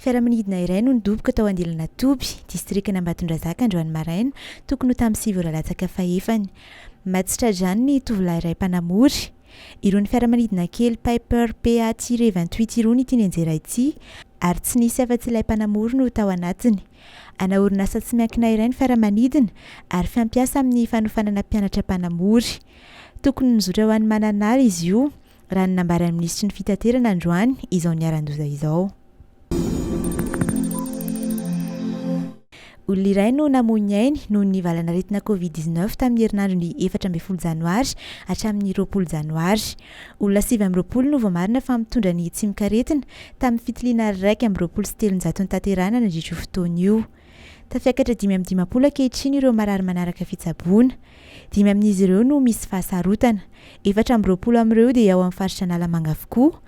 Fiaramanidina iray no nidoboka tao Andilanatoby, distrikan'Ambatondrazaka androany maraina, tokony ho tamin'ny sivy ora latsaka fahefany. Maty tra-drano ny tovolahy iray mpanamory. Irony fiaramanidina kely Piper PA-Tire vingt huit irony ity nianjera ity ary tsy nisy afa-tsy ilay mpanamory no tao anatiny. Ana orinasa tsy miankina iray ny fiaramanidina ary fampiasa amin'ny fanofanana mpianatra mpanamory. Tokony nizotra ho any Mananara izy io. raha ny nambaran'ny minisitry ny Fitaterana androany izao niharan-doza izao. Olona iray no namoy ny ainy noho ny valanaretina Covid 19 tamin'ny herinandro ny efatra ambin'ny folo janoary hatramin'ny roapolo janoary. Olona sivy amby roapolo no voamarina fa mitondra ny tsimokaretina tamin'ny fitiliana iraika amby roapolo sy telonjato notanterahina nandritra io fotoana io. Tafiakatra dimy amby dimampolo ankehitriny ireo marary manaraka fitsaboana. Dimy amin'izy ireo no misy fahasarotana. Efatra amby roapolo amin'ireo dia ao amin'ny faritra Analamanga avokoa.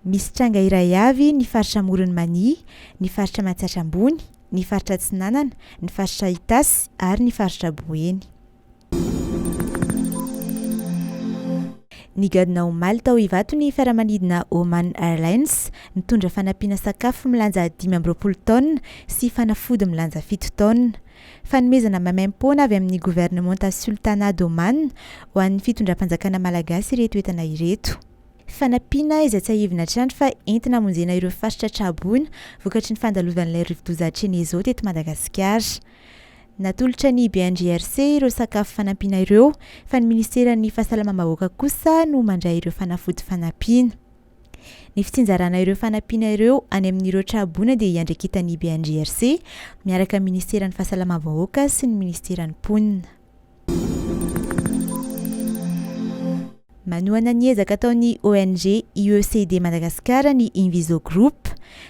Misy tranga iray avy ny faritra Amoron'i Mania, ny faritra Matsiatra Ambony, ny faritra Atsinanana, ny faritra Itasy ary ny faritra Boeny. Nigadona omaly tao Ivato ny fiaramanidina Oman Airlines nitondra fanampiana sakafo milanja dimy amby roapolo taonina sy fanafody milanja fito taonina. Fanomezana maimaim-poana avy amin'ny governemanta Sultanat d'Oman ho an'ny fitondram-panjakana malagasy ireto entana ireto. Fanampiana izay tsiahivina hatrany fa entina hamonjena ireo faritra traboina vokatry ny fandalovan'ilay rivodoza Chenezo teto Madagasikara. Natolotra ny BNGRC ireo sakafo fanampiana ireo fa ny Ministeran'ny Fahasalamam-bahoaka kosa no mandray ireo fanafody fanampiana. Ny fitsinjarana ireo fanampiana ireo any amin'ireo tra-boina dia iandraiketan'ny BNGRC miaraka amin'ny Ministeran'ny Fahasalamam-bahoaka sy ny Ministeran'ny Mponina. Manohana ny ezaka ataon'ny ONG UECD Madagascar ny Inviso Group.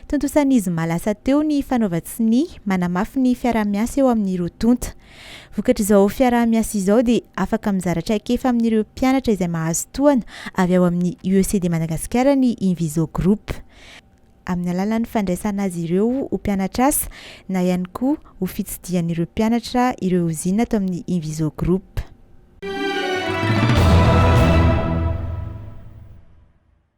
Tontosan'ny zoma lasa teo ny fanaovan-tsonia manamafy ny fiaraha-miasa eo amin'ny roa tonta. Vokatr'izao fiaraha-miasa izao dia afaka mizara traikefa amin'ireo mpianatra izay mahazo tohana avy ao amin'ny UECD Madagascar ny Inviso Group. amin'ny alalan'ny fandraisana azy ireo ho mpianatr'asa na ihany koa ho fitsidihan'ireo mpianatra ireo ozina ato amin'ny Inviso Group.